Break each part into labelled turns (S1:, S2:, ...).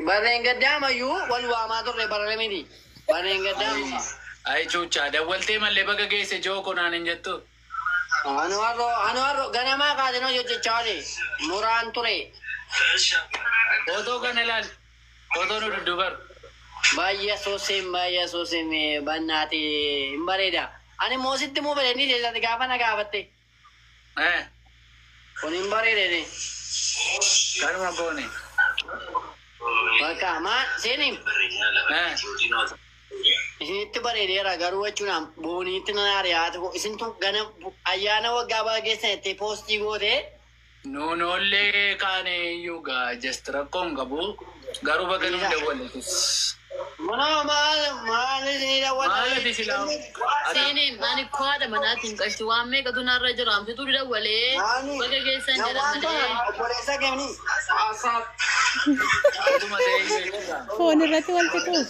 S1: Barreen gaddaa mayyuu wal waamaa turre barre miti. Barreen gaddaa muma. Ayi cuuchaa
S2: dawwaltee mallee baga geesse joo ko naan hin jettu. Anu harro anu harro
S1: ganamaa kaasin hojjechaa oli muraan ture.
S2: Footoo kana ilaali. Footoo nu dudduubaru. Baay'ee
S1: suusiin baay'ee suusiin bannaati hin bareeda. Ani immoo sitti immoo bareedni keessatti gaafa na gaafatte. Eh, kun hin bareedene.
S2: Kanuma goone. Bakka
S1: maa seeniin Eh, isinitti bareedeera garuu jechuun booniitti nan ari'aati. Isintu gana ayyaana waggaa baga keessan itti poostii gootee. Nuu noollee
S2: kaane iyyuu gaa just rakkoo hin qabu garuu baga nuuf dawwalletis. Manoo
S1: maal maal isinii dawwata Maalati silaa
S2: ati Siiniin
S3: ani koo haadha manaatiin qarshii waan meeqatu narra jira anfituu didawwalee Maani baga geessan jedha jawwaan kana malee. obboleessa kemni
S1: akkuma ta'e iyyuu jira.
S4: Foon irratti wal fixuuf.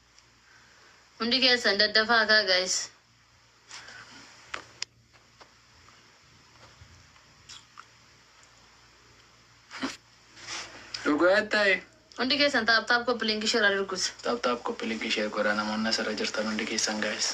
S3: Hundi keessan daddafaa kaa guys.
S2: Dhugaa ta'e. Hundi keessan
S3: taap taap koppi linkii share adirgus. Taap taap koppi linkii
S2: share godhaa namoonni asirra jirtan hundi keessan guys.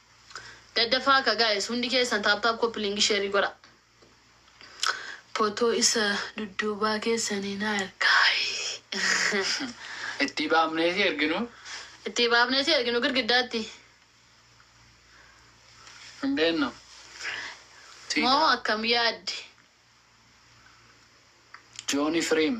S3: Daddafaaka guys hundi keessan tap tap copy link share godha. Photo isa dudduubaa keessan hin argaa. Ittii
S2: baafnee si erginu. Ittii baafnee
S3: si erginu girgiddaatti.
S2: Hin beennu.
S3: Moo akkam yaadde.
S2: Jooni Firiim.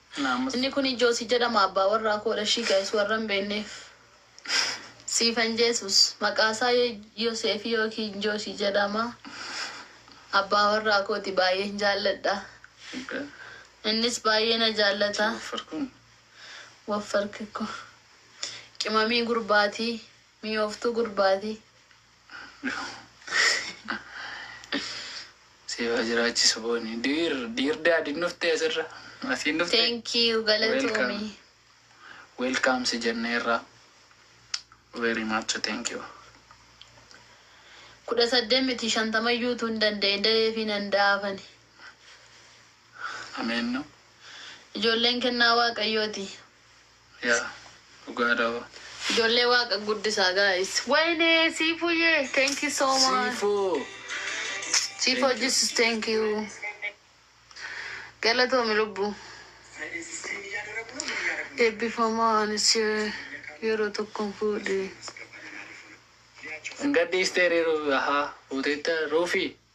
S3: Inni
S2: kuni Josi jedhama
S3: abbaa warraa koodha ishii guys warra hin beekneef Siifan Jesus maqaa isaa Yoseefi yookiin Josi jedhama abbaa warraa kooti baay'een jaalladha innis baay'ee na jaallata woffarkikko qimamii gurbaati miyooftuu gurbaati.
S2: Siifaa jiraachisu booni. Diir diir daadin dhuftee asirra. Asiin dhuftee. Thank you galatoomi. Welcome si jennee irraa. Very much thank you. Kudha
S3: saddeet miti shantama iyyuu utuu hin danda'e da'ee fi nan da'aafani.
S2: Ameen no. Ijoolleen
S3: kennaa waaqayyooti.
S2: Yaa dhugaa dha hoo. Ijoollee
S3: waaqa guddisaa guys. Wayne siifuye thank you so much. Siifoo. Chief Thank you. Jesus thank you. Galatoomi lubbu. Eebbifamaa anis yeroo tokkon fuudhe. Hin
S2: gadhiistee ree Ruufi. Ahaa fuuteetta Ruufi.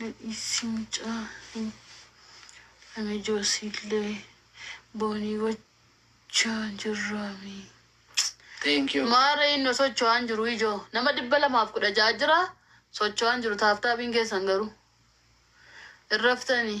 S3: Nadhiissi mucaa hin ame joosiillee boonii gochaa jirraamii.
S2: Thank you. Maara inni socho'aan
S3: jiru ijoo nama dhibba lamaaf kudha ja'a jira socho'aan jiru taaftaabiin keessan garuu hin raftanii.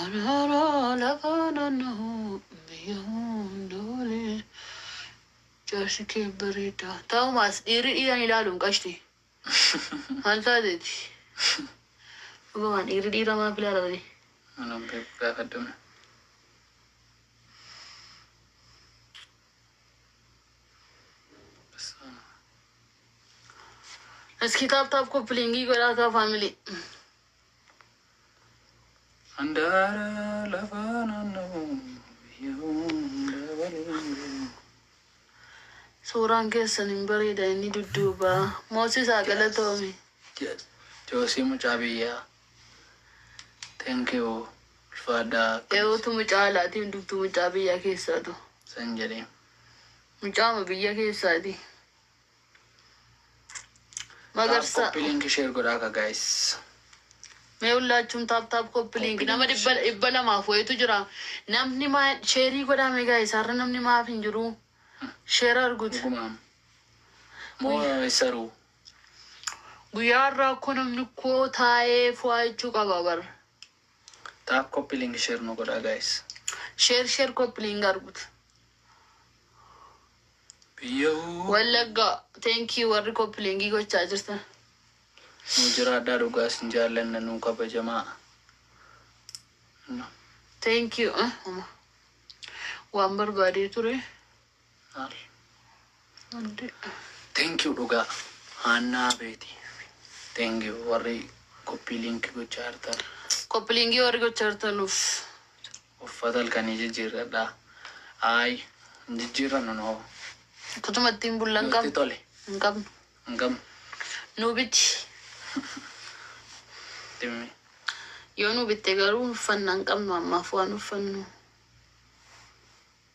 S3: Araara lafa naannahu biyya hunda wali. Jaarsi kee bareeda. Ta'umaas dhiirri dhiiran ilaaluun qashti. Maal taateeti? Dhugumaan dhiirri dhiira maaf ilaala wali? Anuu beeku
S2: gaafadhume.
S3: Iskii taap taap koppiliingii godhaa kaa faamilii.
S2: Handaara lafaa naannoo biyya hunda waliin ga'u.
S3: Suuraan keessan hin bareeda inni dudduubaa. Moosisaa galatoomi. Yes.
S2: Joosii mucaa biyyaa. Thank you. Ulfaadhaa. Eewutu mucaa
S3: alaatii hundumtuu mucaa biyyaa keessaatu. San jedhee.
S2: Mucaama
S3: biyya keessaati. Magarsa. Copy link share godhaa
S2: ka guys.
S3: Mee hullaachuun taap taap koppi link Copy nama link dhibba share. dhibba lamaaf wayitu jira. Namni maa sheerii godhaa mee gaa'e isaarra namni maaf hin jiru. Sheer arguut. Dhugumaam.
S2: Moo saruu.
S3: Guyyaa har'aa akkoo namni koo taa'ee fu'aa jechuu qaba bar. Taap
S2: copy link share nu godhaa guys. Sheer sheer
S3: koppi link arguut.
S2: Biyyahuu. Wallagga
S3: thank you warri koppilingi gochaa jirtan. Nuu
S2: jiraadhaa dhugaa sin jaallanna nuu kabajamaa. No.
S3: Thank you. Ah, homa. Waan barbaadee ture. Maal? Hundi.
S2: Thank you dhugaa. Haannaa beeti. Thank you warri koppii linkii gochaa jirtan. Koppilingi warri
S3: gochaa jirtanuuf. Uffata
S2: halkanii jijjiirradhaa. Ayi, hin jijjiirrannu nu hoo. Kutuma ittiin
S3: bullu hin qabnu. Nutti tole. Hin
S2: qabnu.
S3: Hin qabnu.
S2: Nuu biti. Dimmii. Yoo nuu
S3: bitte garuu hin uffanna hin qabnu ammaaf waan uffannu.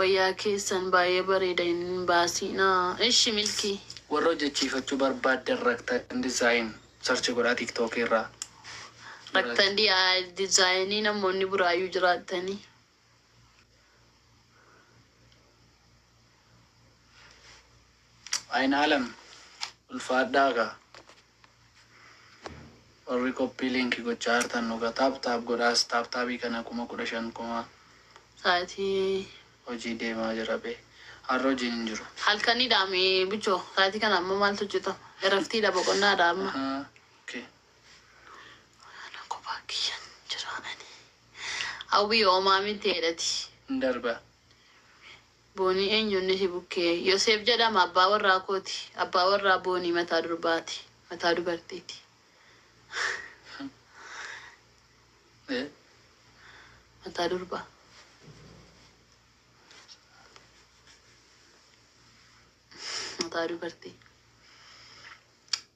S3: Wayyaa keessan baay'ee bareeda hin baasiinaa ishi milkii. Warra hojjechiifachuu
S2: barbaaddan Raktan Design search godhaa tiktok irraa. Raktan
S3: Design namoonni Buraayyuu jiraattanii.
S2: Aynaalam ulfaadhaa kaa. Warri copy link gochaa jirtan dhuga tap tap godhaas tap tap kana kuma kudha shan kuma. Sa'atii.
S3: Hojii
S2: deemaa jira bee. Har'a hojiin hin jiru. Halkanidha me
S3: bucho sa'atii kana amma maaltu hojjetama eraftiidha boqonnaadha amma. Ahaa ok.
S2: Ana
S3: kophaa kiyyan jiraa ani. Hawwii hoomaa mitti heedhati. Hin darba. Boonii eenyu inni si bukkee? Yoseef jedhama, abbaa warraa kooti. Abbaa warraa Boonii mataa durbaati. Mataa dubartiiti. Mataa durbaa. Mataa dubartii.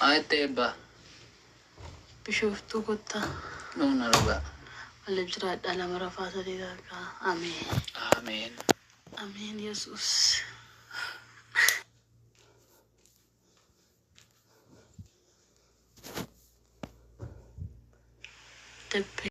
S2: Aette Ebba. Bishooftuu
S3: kottaa. Nuun argaa.
S2: Waliif
S3: jiraadhaa lama rafaa sadii dargaa ameen. Ameen.
S2: Ameen
S3: yesuus. Debbe.